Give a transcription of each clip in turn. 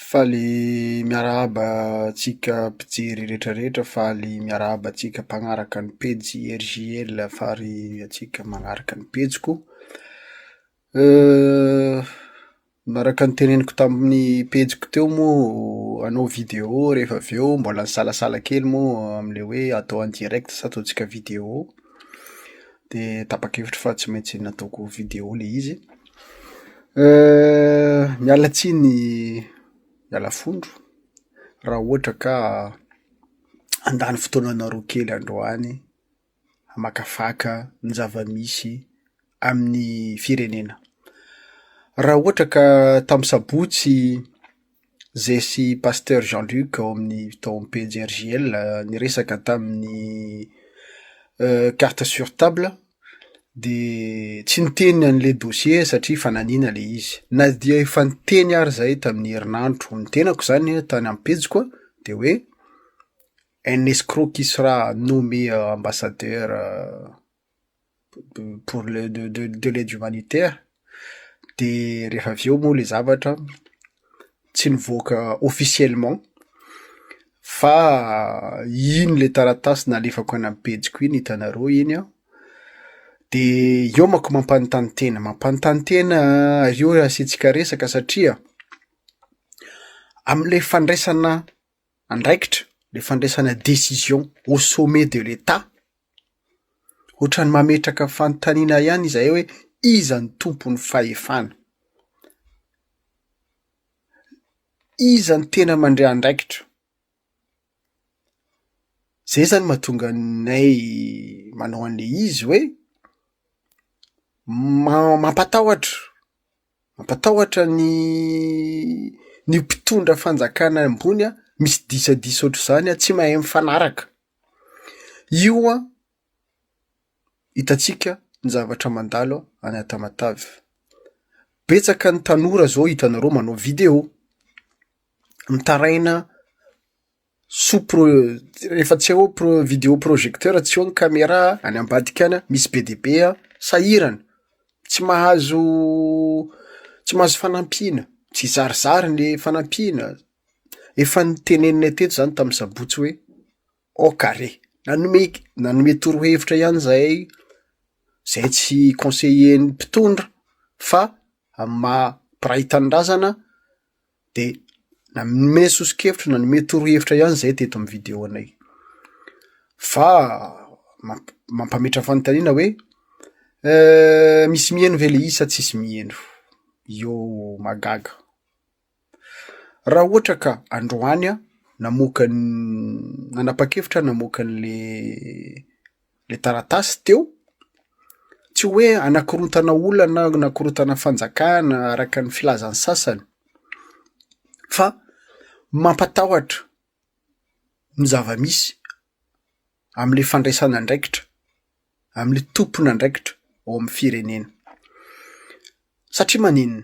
Faly miarahaba antsika mpijery rehetra rehetra, faly miarahaba antsika mpagnaraka ny pejy RJL fary antsika magnaraka ny pejiko. Manaraka ny teneniko tamin'ny pejiko teo moa hanao vidéo rehefa avy eo mbola nisalasala kely moa amin'ilay hoe atao en direct sa ataontsika vidéo. De tapa-kevitra fa tsy maintsy nataoko video le izy. Miala tsiny miala fondro raha ohatra ka handany fotoananareo kely androany hamakafaka ny zava-misy amin'ny firenena. Raha ohatra ka tamin'ny sabotsy Zesy Pasteur Jean Luc ao amin'ny tao amin'ny pejy RJL niresaka tamin'ny carte sur table dia tsy niteny an'ilay dossier satria fananiana ilay izy. Na dia efa niteny ary izahay tamin'ny herinandro ny tenako izany tany amin'ny pejiko an, dia hoe un escroc qui sera nommé ambassadeur. pour le de de de l'aide humanitaire de rehefa avy eo moa le zavatra tsy nivoaka officiellement fa iny le taratasy nalefako any amin'ny pejiko iny hitanareo iny an, de eo manko mampanontany tena, mampanontany tena eo asiantsika resaka satria, amin'ilay fandraisana andraikitra le fandraisana décision au sommet de l'etat, ohatran'ny mametraka fanontaniana ihany izahay hoe iza no tompon'ny fahefana? Iza no tena mandray andraikitra? Zay zany mahatonga anay manao an'le izy hoe ma- mampatahotra. Mampatahotra ny ny mpitondra fanjakana ambony an, misy disadisa ohatr'izany an, tsy mahay mifanaraka. Io an, hitantsika ny zavatra mandalo any Tamatave. Betsaka ny tanora izao hitanareo manao vidéo, mitaraina. Soa pro rehefa tsy eo pro video projecteur tsy eo ny camera any ambadika any misy be dia be an sahirana tsy mahazo tsy mahazo fanampiana tsy zarizary ny fanampiana efa noteneninay teto zany tamin'ny sabotsy hoe ok are nanome nanome torohevitra ihany zahay zay tsy conseiller ny mpitondra fa amin'ny maha mpiray tanindrazana de nanome soso-kevitra nanome torohevitra ihany zay teto amin'ny video anay, fa mamp- mampametra fanontaniana hoe misy miheno ve le izy sa tsisy miheno? io mahagaga, raha ohatra ka androany aho namoaka ny nanapa-kevitra aho namoaka an'le. le taratasy teo, tsy hoe hanakorontana olona na hanakorontana fanjakana araka ny filazan'ny sasany fa mampatahotra ny zava-misy amin'le fandraisana andraikitra, amin'le tompon'andraikitra ao amin'ny firenena. Satria maninona?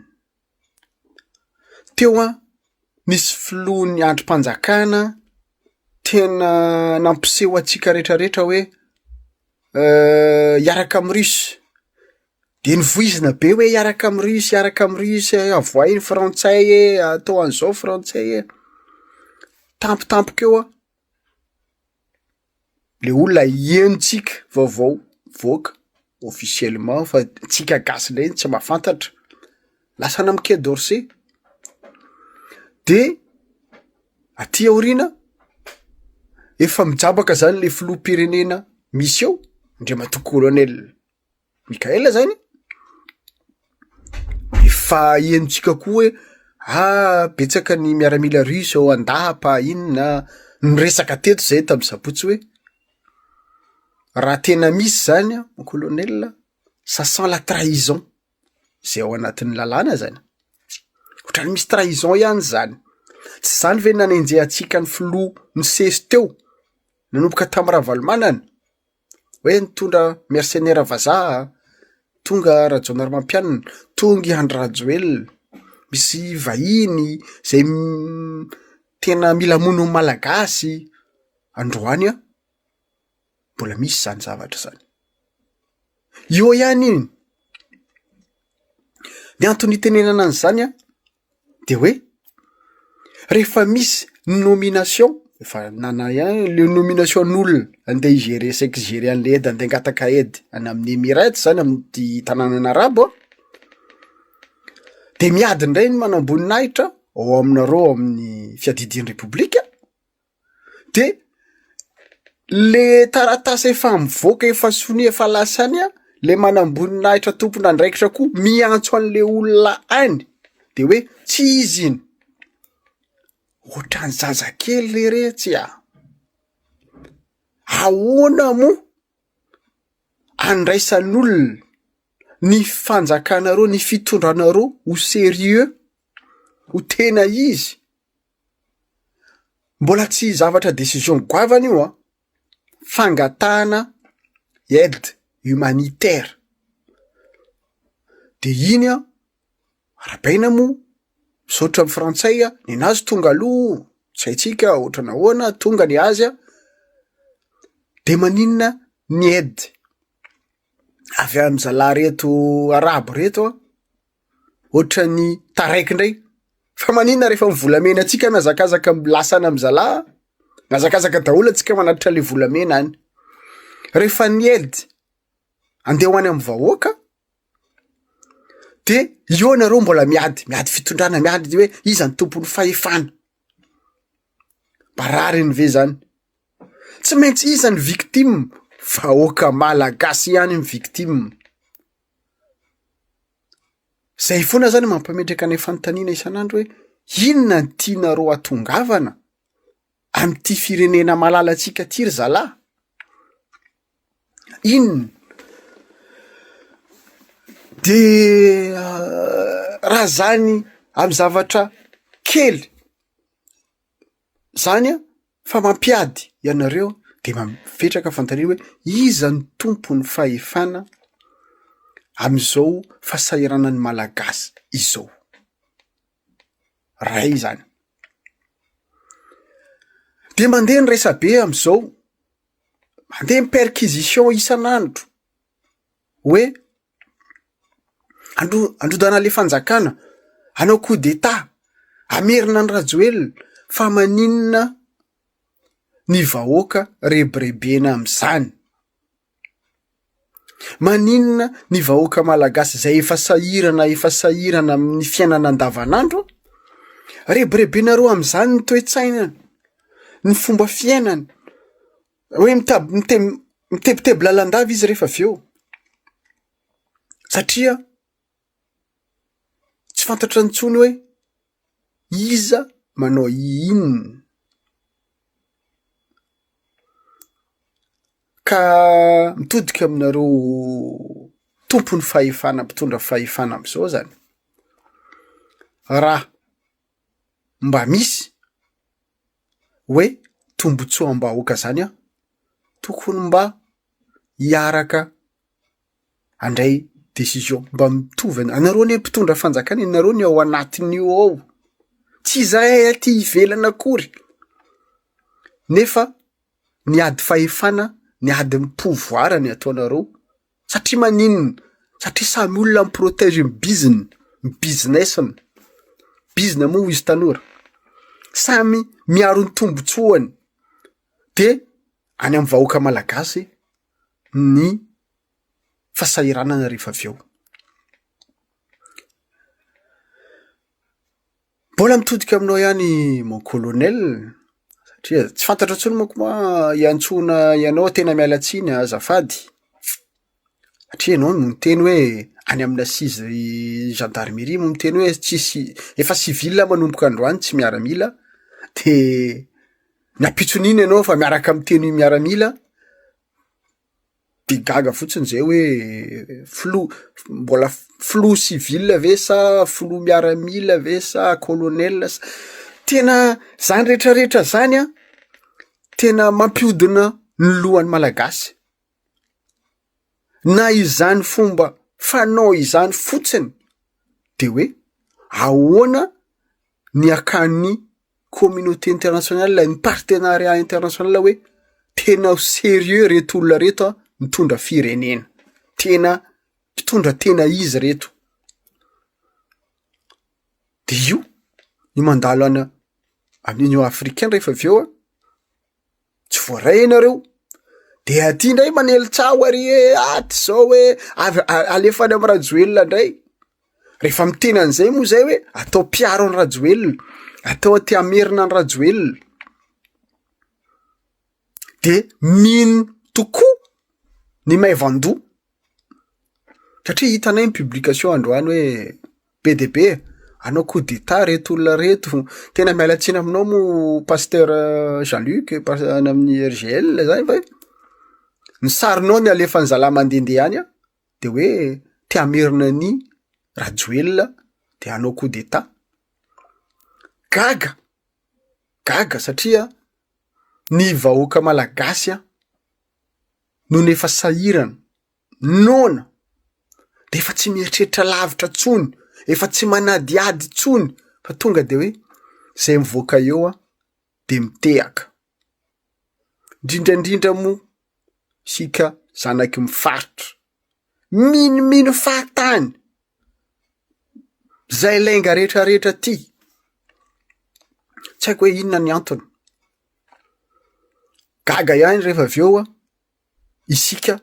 Teo an, nisy filohan'ny andrim-panjakana tena nampiseho antsika rehetra rehetra hoe hiaraka amin'ny Russes. De novoizina be hoe hiaraka amin'ny Russes, hiaraka amin'ny Russes e, avohay ny frantsay e, atao an'izao frantsay e. Tampotampoka eo an. le olona henontsika vaovao mivoaka officiellement fa antsika gasy ndray tsy mahafantatra, lasa any amin'ny quai d'orsay, de aty aoriana efa mijabaka zany le filoham-pirenena misy eo, Andriamatoa Kolonely. Mikaela zany efa henontsika koa hoe ah betsaka ny miaramila russe ao an-dapa inona ah, niresaka teto zay tamin'ny zabotsy hoe raha tena misy zany an mon colonel a, ça sent la trahison zay ao anatin'ny lalàna zany, ohatran'ny misy trahison ihany zany, tsy zany ve nanenjehantsika ny filoha nisesy teo nanomboka tamin'ny Ravalomanana Hoe nitondra mercenaires vazaha an! Tonga Rajaonarimampianina, tonga i Andry Rajoelina, misy vahiny izay tena mila hamono ny Malagasy androany an! Mbola misy izany zavatra izany. Eo ihany ny antony itenenana an'izany an! de hoe rehefa misy nomination efa nana ihany le nomination n'olona andeha hi-gerer saika hi-gerer an'le aide andeha hangataka aide any amin'ny Emirates zany amin'ity tanànana arabo an, de miady indray ny manamboninahitra ao aminareo ao amin'ny fiadidian'ny repoblika. de le taratasy efa mivoaka efa sonia efa lasa any an, le manamboninahitra tompon'andraikitra koa miantso an'le olona any de hoe tsy izy iny, ohatran'ny zazakely le retsy a, ahoana moa andraisan'olona ny fanjakanareo ny fitondranareo ho serieux ho tena izy. Mbola tsy zavatra décision goavana io an! Fangatahana aide humanitaire. De iny an, arabaina moa, misaotra ny frantsay an, nenazy tonga aloha, tsy haintsika ohatra nahoana, tonga ny azy an, de maninona ny aide? avy any zalahy reto arabo reto an, ohatran'ny taraiky indray, fa maninona rehefa ny volamena antsika no hazakazaka lasa any amin'ny zalahy an, hazakazaka daholo antsika manatitra ilay volamena any, rehefa ny aide andeha ho any amin'ny vahoaka dia eo nareo mbola miady, miady fitondrana miady hoe iza no tompon'ny fahefana. Marariny ve zany? Tsy maintsy iza ny victime? Vahoaka malagasy ihany ny victime. Zay foana zany mampametraka ny fanontaniana isan'andro hoe inona no tianareo hatongavana amin'ity firenena malalantsika ity ry zalahy? Inona? De raha zany amin'ny zavatra kely. zany a fa mampiady ianareo de mametraka fanontaniana hoe iza no tompon'ny fahefana amin'izao fahasahiranan'ny malagasy izao? Ray zany, de mandeha ny resabe am'zao, mandeha ny perquisition isan'andro hoe. Andro- androdana le fanjakana, hanao coup d'etat, hamerina an'i Rajoelina, fa maninona ny vahoaka rebirebena amin'izany? Maninona ny vahoaka malagasy izay efa sahirana efa sahirana amin'ny fiainana andavanandro rebirebenareo amin'izany ny toe-tsainany, ny fomba fiainany? Hoe mitab- mite- mitebiteby lalandava izy rehefa avy eo satria tsy fantatra intsony hoe iza manao inona. Ka mitodika aminareo tompon'ny fahefana, mpitondra fahefana am'zao zany, raha mba misy hoe tombontsoam-bahoaka izany aho, tokony mba hiaraka handray décision mba mitovy an-dra-, anareo anie mpitondra fanjakana e, nareo ny ao anatin'io ao, tsy izahay aty ivelany akory nefa ny ady fahefana, ny ady ny pouvoir no ataonareo, Satria maninona? Satria samy olona mi-protège ny biziny, ny business-ny, bizina moa ho izy tanora, samy miaro ny tombotsoany de any amin'ny vahoaka malagasy ny fasahiranana rehefa avy eo. Mbola mitodika aminao ihany mon colonel satria tsy fantatro intsony manko moa hiantsoana ianao tena miala tsiny a, azafady satria ianao no niteny hoe any amina seize gendarmerie no niteny hoe tsisy efa civil manomboka androany tsy miaramila de ny ampitson'iny ianao efa miaraka miteny miaramila. de gaga fotsiny zay hoe filoha mbola filoha civil ve sa filoha miaramila ve sa colonel sa tena zany retraretra zany an tena mampiodina ny lohan'ny malagasy na izany fomba fanao izany fotsiny de hoe ahoana niakan'ny communauté internationale, ny partenariat international hoe tena ho serieux reto olona reto an, mitondra firenena, tena mpitondra tena izy reto. De io ny mandalo any a- any Union africaine rehefa avy eo an, tsy voaray ianareo de aty ndray manely tsaho ary e aty zao hoe avy alefa any amin'ny rajoelina ndray rehefa miteny an'izay moa zay hoe atao mpiaro any rajoelina atao aty amerina any rajoelina de mino tokoa ny maivandoha Satria hitanay ny publication androany hoe be dia be e, hanao coup d'etat ireto olona ireto, tena miala tsiny aminao moa Pasteur Jean Luc pas- any amin'ny RGL zany fa hoe, ny sarinao no alefan'ny zalahy mandehandeha any an, dia hoe te hamerina an'i Rajoelina te hanao coup d'etat, gaga, gaga satria ny vahoaka malagasy an, nony efa sahirana, noana, dia efa tsy mieritreritra lavitra intsony, efa tsy manadihady intsony fa tonga dia hoe izay mivoaka eo aho dia mitehaka. Indrindra indrindra moa isika zanaky ny faritra, minomino fahatany izay lainga rehetra rehetra aty, tsy haiko hoe inona ny antony. Gaga ihany rehefa avy eo isika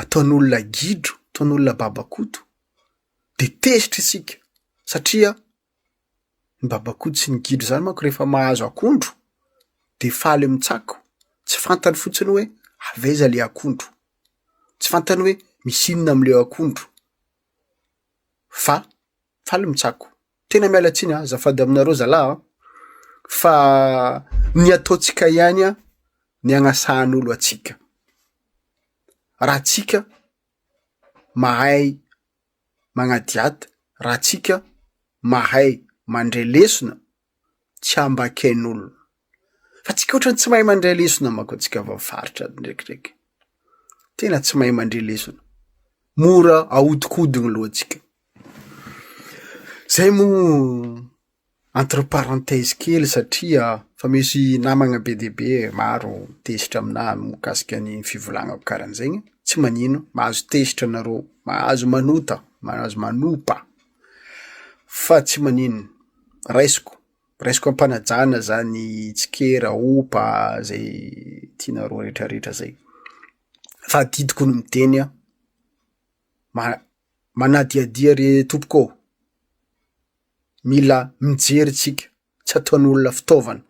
ataon'olona gidro, ataon'olona babakoto dia tezitra isika satria ny babakoto sy ny gidro zany manko rehefa mahazo akondro dia faly mitsako, tsy fantany fotsiny hoe avy aiza le akondro, tsy fantany hoe misy inona amle akondro fa faly mitsako. tena miala tsiny azafady aminareo zalah a, fa ny ataontsika ihany a ny agnasahan'olo atsika, raha tsika mahay magnadiady, raha tsika mahay mandre lesona tsy ambaken'olo. Fa tsika otrany tsy mahay mandray lesona mako antsika avy amin'ny faritra ndraikidraiky. Tena tsy mahay mandre lesona. Mora ahodikodiny lohantsika. Zay mo entre parenthèse kely satria fa misy namagna be dia be maro tezitra aminà mikasika ny fivolagnako karan'zaigny. Tsy manino, mahazo tezitra anareo, mahazo manota, mahazo manopa fa tsy manino. Raisiko Raisiko am-panajana zany tsikera, opa, zay tianareo retraretra zay. Fa adidiko ny miteny an, ma- manadihadia re tompoko ô, mila mijery tsika, tsy ataon'olona fitaovana.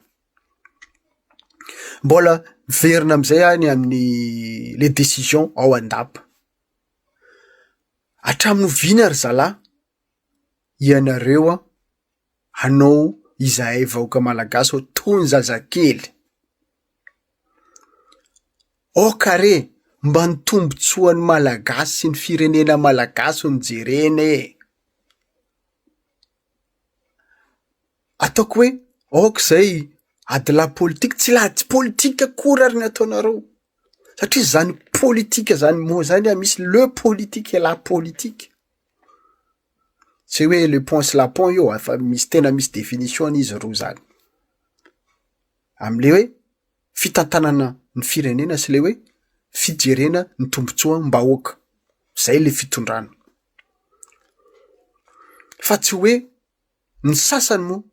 Mbola miverina am'zay aho ny amin'ny le décision ao andapa. Hatramin'oviana ry zalahy ianareo an. anao izahay vahoaka malagasy ao toy ny zazakely. Aoka re mba ny tombontsoan'ny malagasy sy ny firenena malagasy no jerena e! Ataoko hoe aoka izay adilahy politika, tsy lahy tsy politika akory ary ny ataonareo satria izany politika izany moa izany dia misy le politika et la politika. Tsy hoe le pont sy la pont io efa misy tena misy définition-ny izy roa zany. Amin'ilay hoe fitantanana ny firenena sy le hoe fijerena ny tombontsoam-bahoaka. Zay le fitondrana. Fa tsy hoe ny sasany moa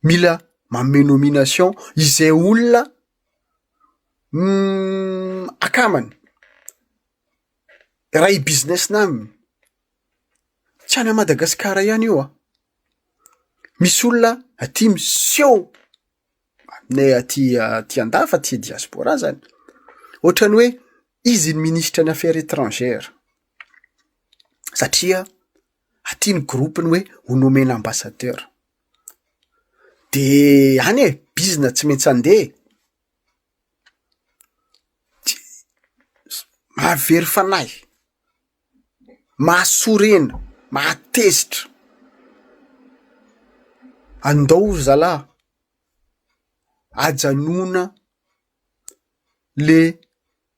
mila manome nomination izay olona akàmany. Raha i business nà an, tsy any Madagasikara ihany io an! Misy olona aty miseho aminay aty aty an-dafy aty diaspora zany, ohatran'ny hoe izy no ministra ny affaires étrangères satria aty ny groupe-ny hoe ho nomen ambassadeur. De any e! Bizina tsy maintsy andeha e! Mahavery fanahy, mahasorena, mahatezitra. Andao ry zalahy, ajanona le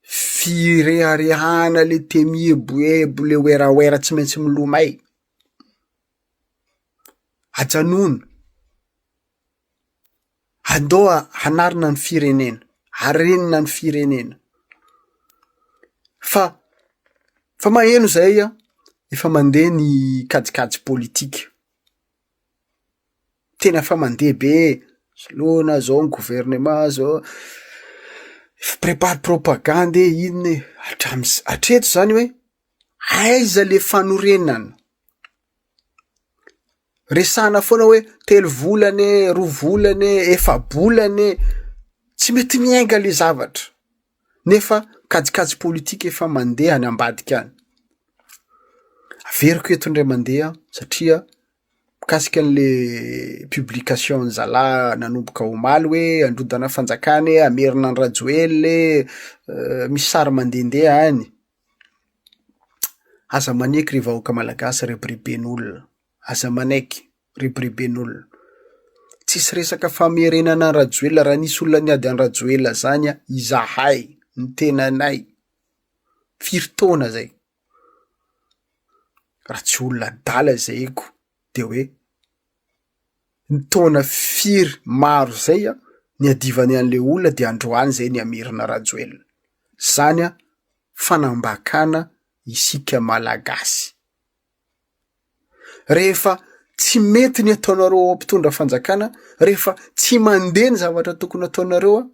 fireharehana, le te mieboebo, le werawera tsy maintsy milomay, ajanona. Andoha hanarina ny firenena, harenina ny firenena. Fa fa maheno izay an, efa mandeha ny kajikajy politika. Tena efa mandeha be e, soloina izao ny governemanta izao, efa prépare propagande e, inona e, hatramin'izay, hatreto izany hoe aiza ilay fanorenana? Resahana foana hoe telo volana e, roa volana e, efa-bolana e. Tsy mety miainga le zavatra. Nefa kajikajy politika efa mandeha any ambadika any. Averiko eto indray mandeha satria mikasika an'le publication zalahy nanomboka omaly hoe androdana fanjakana e, hamerina an'i Rajoelina e, misy sary mandehandeha any. Aza maneky ry vahoaka malagasy rebireben'olona, aza manaiky, rebireben'olona. Tsisy resaka famerenana an'i Rajoelina, raha nisy olona niady an'i Rajoelina zany an, izahay, ny tenanay, firy taona zay, raha tsy olona adala zay ko de hoe. ny taona firy maro izay an, niadivany an'ilay olona dia androany izay nihamirina Rajoelina. Izany an, fanambakana isika Malagasy. Rehefa tsy mety ny ataonareo ao mpitondra fanjakana, rehefa tsy mandeha ny zavatra tokony ataonareo an,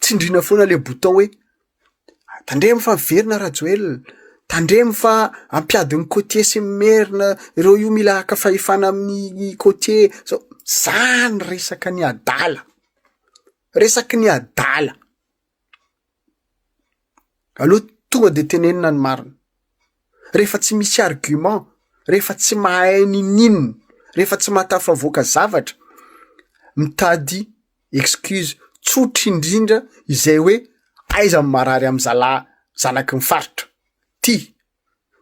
tsindrina foana ilay bouton hoe Tandremo fa velona Rajoelina, tandremo fa hampiady ny côtier sy ny merina ireo io mila haka fahefana amin'ny côtier zao, zany resaka ny adala, resaky ny adala. Aleo tonga de tenenina ny marina, rehefa tsy misy argument, rehefa tsy mahay ninoninona, rehefa tsy mahatafavoaka zavatra, mitady excuse tsotra indrindra izay hoe aiza ny marary amin'ny zalahy zanaky ny faritra ty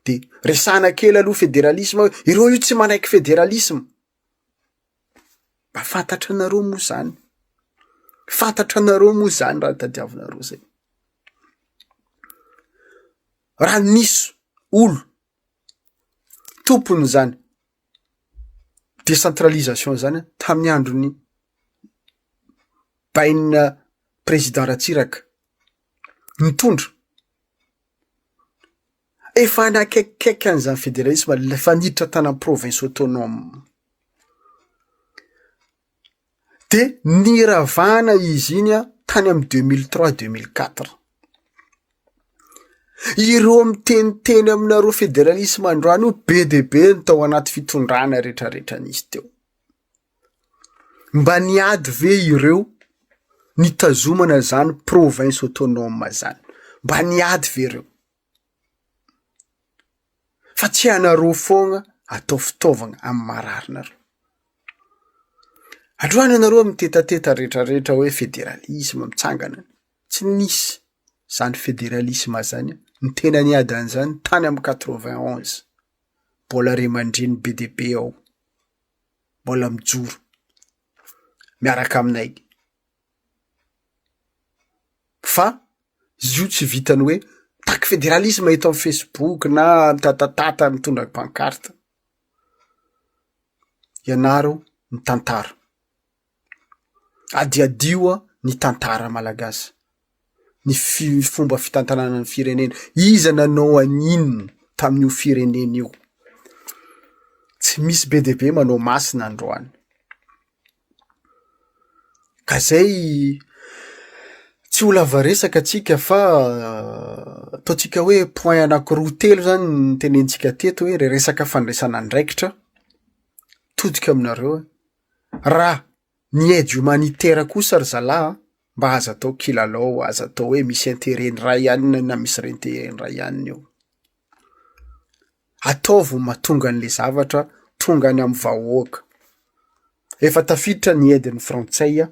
de resahana kely aloha federalisma hoe ireo io tsy manaiky federalisma mba fantatra anareo moa zany fantatra anareo moa zany raha tadiavinareo zay raha nisy olo tompony zany décentralisation izany an, tamin'ny andron'ny bainina président Ratsiraka nitondra, efa nakaikikaiky an'izany fédéralisme, efa niditra tany amin'ny province autonome. dia niravana izy iny an tany amin'ny deux mille trois deux mille quatre ireo miteniteny aminareo federalisme androany io be dia be ny tao anaty fitondrana retraretra nisy teo mba niady ve ireo nitazomana zany province autonome zany mba niady ve ireo Fa tsy anareo foana atao fitaovana amin'ny mararinareo. Androany ianareo mitetateta rehetra rehetra hoe federalisma mitsangana any. Tsy nisy izany federalisma izany. Ny tena niady an'izany tany amin'ny quatre vingt onze. Mbola ray aman-dreny be dia be ao. Mbola mijoro miaraka aminay. Fa izy io tsy vitan'ny hoe mitaky federalisma eto amin'ny facebook na mitatatata mitondra pancarte. Ianaro ny tantara. Adihadio ny tantara malagasy. Ny fi- fomba fitantanana ny firenena. Iza nanao an'inona tamin'io firenena io? Tsy misy be dia be manao masina androany. Ka izay tsy ho lava resaka tsika fa ataontsika hoe point anakiroa telo izany no tenenitsika teto hoe ilay resaka fandraisana andraikitra todika aminareo an, raha ny aide humanitaire kosa ry zalahy an, mba aza atao kilalao, aza atao hoe misy interet ny iray ihany na misy re-interet ny iray ihany eo. Ataovy ho mahatonga an'le zavatra tonga any amin'ny vahoaka. Efa tafiditra ny aide ny frantsay an!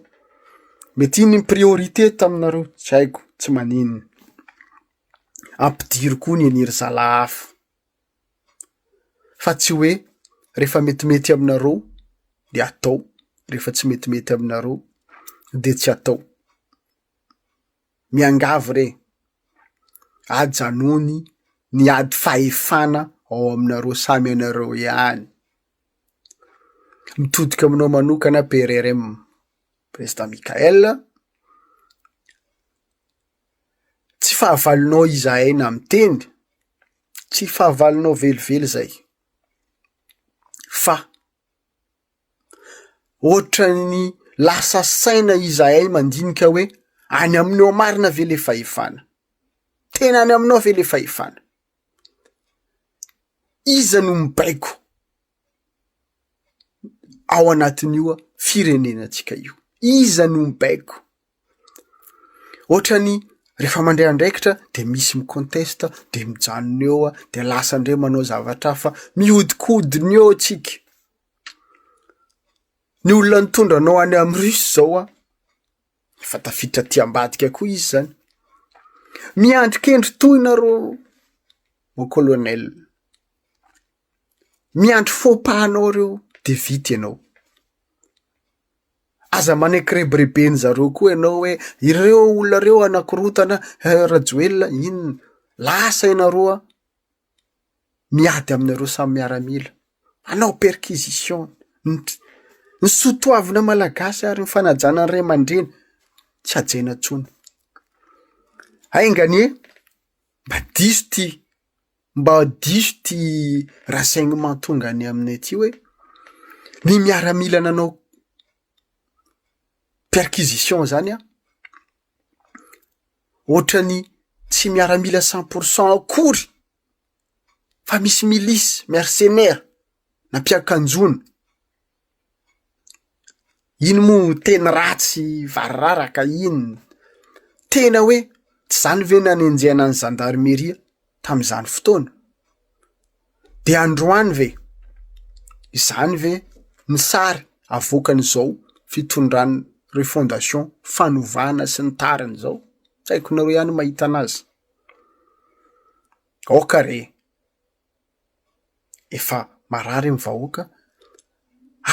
Mety iny ny priorité taminareo, tsy haiko, tsy maninona. Ampidiro koa ny an'i ry zalahy hafa. Fa tsy hoe rehefa metimety aminareo dia atao, rehefa tsy metimety aminareo dia tsy atao. miangavy re, ajanony ny ady fahefana ao aminareo samy anareo ihany. Mitodika aminao manokana PRRM, Président Michaël, tsy fahavalonao izahay na miteny, tsy fahavalonao velively izay, fa. Ohatran'ny lasa saina izahay mandinika hoe, any aminao marina ve ilay fahefana? Tena any aminao ve ilay fahefana? Iza no mibaiko ao anatin'io firenenantsika io? Iza no mibaiko? Ohatrany rehefa mandray andraikitra de misy mi-conteste de mijanona eo ah, de lasa ndray manao zavatra hafa, mihodikodina eo tsika, ny olona nitondra anao any amy russe zao an, efa tafiditra aty ambadika koa izy zany, miandry kendry tohina rô mon colonel. Miandry faux pas anao ireo dia vita ianao. Aza manekrebreben zareo koa ianao hoe ireo olona ireo hanakorontana Rajoelina inona. Lasa ianareo an! Miady aminareo samy miaramila. Manao perquisition. Ny soa toavina malagasy ary ny fanajana ny ray aman-dreny tsy hajaina intsony. Hainganie! Mba diso ity. Mba diso ity renseignement tonga any aminay ity hoe ny miaramila nanao perquisition zany an, ohatrany tsy miaramila cent pour cent akory fa misy milices, mercenaires, nampiakanjoana. Iny moa teny ratsy varirara ka iny tena hoe tsy izany ve nanenjehana ny zandarimieria tamin'izany fotoana? Dia androany ve? Izany ve ny sary avoakan'izao fitondran'ny refondation fanovana sy ny tariny izao? Tsy haiko nareo ihany mahita an'azy. Aoka re! efa marary ny vahoaka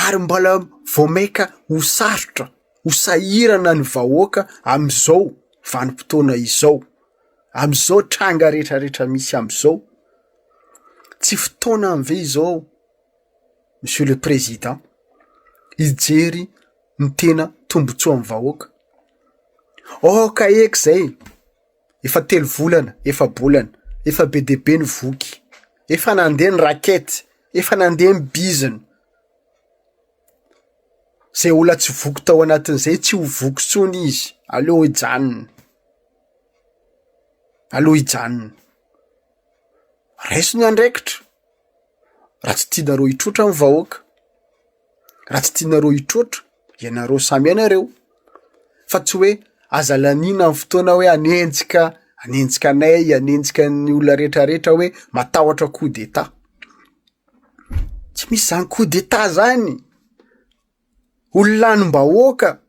ary mbola vao mainka ho sarotra, ho sahirana ny vahoaka amin'izao vanim-potoana izao, amin'izao tranga retraretra misy amin'izao. Tsy fotoanany ve izao Monsieur le Président hijery ny tena tombotsoan'ny vahoaka? Aoka eky izay Efa telo volana, efa-bolana, efa be dia be ny voky, efa nandeha ny rakety, efa nandeha ny bizina. Izay olona tsy voky tao anatin'izay tsy ho voky intsony izy, aleo hijanona. Aleo hijanona. Raiso ny andraikitra raha tsy tianareo hitroatra ny vahoaka, raha tsy tianareo hitroatra. ianareo samy ianareo fa tsy hoe aza laniana ny fotoana hoe hanenjika hanenjika anay hanenjika ny olona retraretra hoe matahotra coup d'etat tsy misy zany coup d'etat zany olona lanim-bahoaka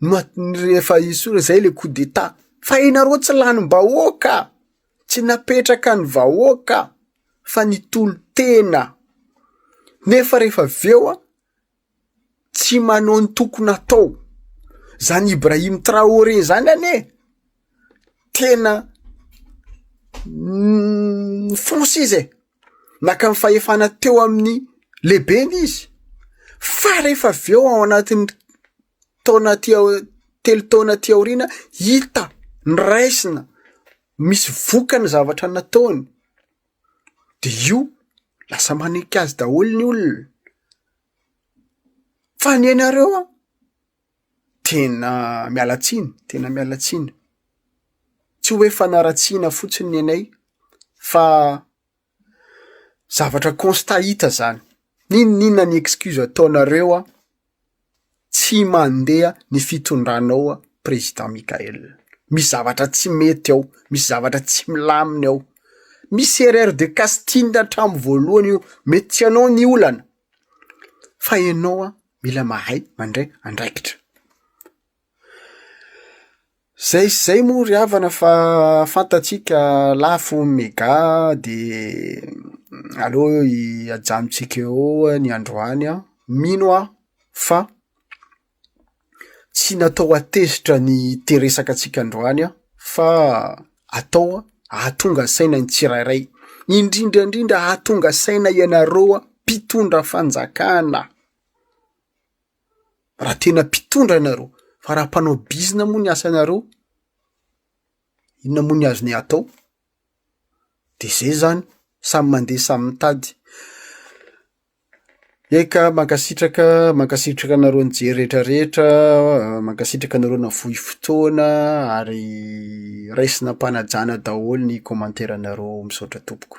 no atn- rehefa esory zay le coup d'etat fa ianareo tsy lanim-bahoaka tsy napetraka ny vahoaka fa nitolo-tena nefa rehefa avy eo a. tsy manao ny tokony atao, zany Ibrahim Traore zany anie tena nifonsa izy e, naka ny fahefana teo amin'ny lehibeny izy fa rehefa avy eo ao anatin'ny taona aty aoriana telo taona aty aoriana hita ny raisina, misy vokany ny zavatra nataony. de io lasa manenky azy daholo ny olona, fa ny anareo an, tena miala tsiny, tena miala tsiny, tsy hoe fanaratsiana fotsiny ny anay fa zavatra constat hita zany, n'inon'inona ny excuse ataonareo an. tsy mandeha ny fitondranao président Mickaël. Misy zavatra tsy mety ao, misy zavatra tsy milamina ao. Misy erreur de casting hatramin'ny voalohany io, mety tsy anao ny olana fa enao mila mahay mandray andraikitra. Zay sy zay moa ry havana fa fantatsika lafo ny mega de aleo ajanontsika eo ny androany an, mino aho fa tsy natao hatezitra ny hiteresaka antsika androany an, fa atao ahatonga saina ny tsirairay, indrindra indrindra ahatonga saina ianareo mpitondra fanjakana. Raha tena mpitondra ianareo, fa raha mpanao bizina moa ny asanareo, inona moa ny azony atao? De zay zany, samy mandeha samy mitady. Eka, mankasitraka, mankasitraka anareo nijery rehetra rehetra, mankasitraka anareo navohy fotoana ary raisina am-panajana daholo ny commentaire-nareo, misaotra tompoko.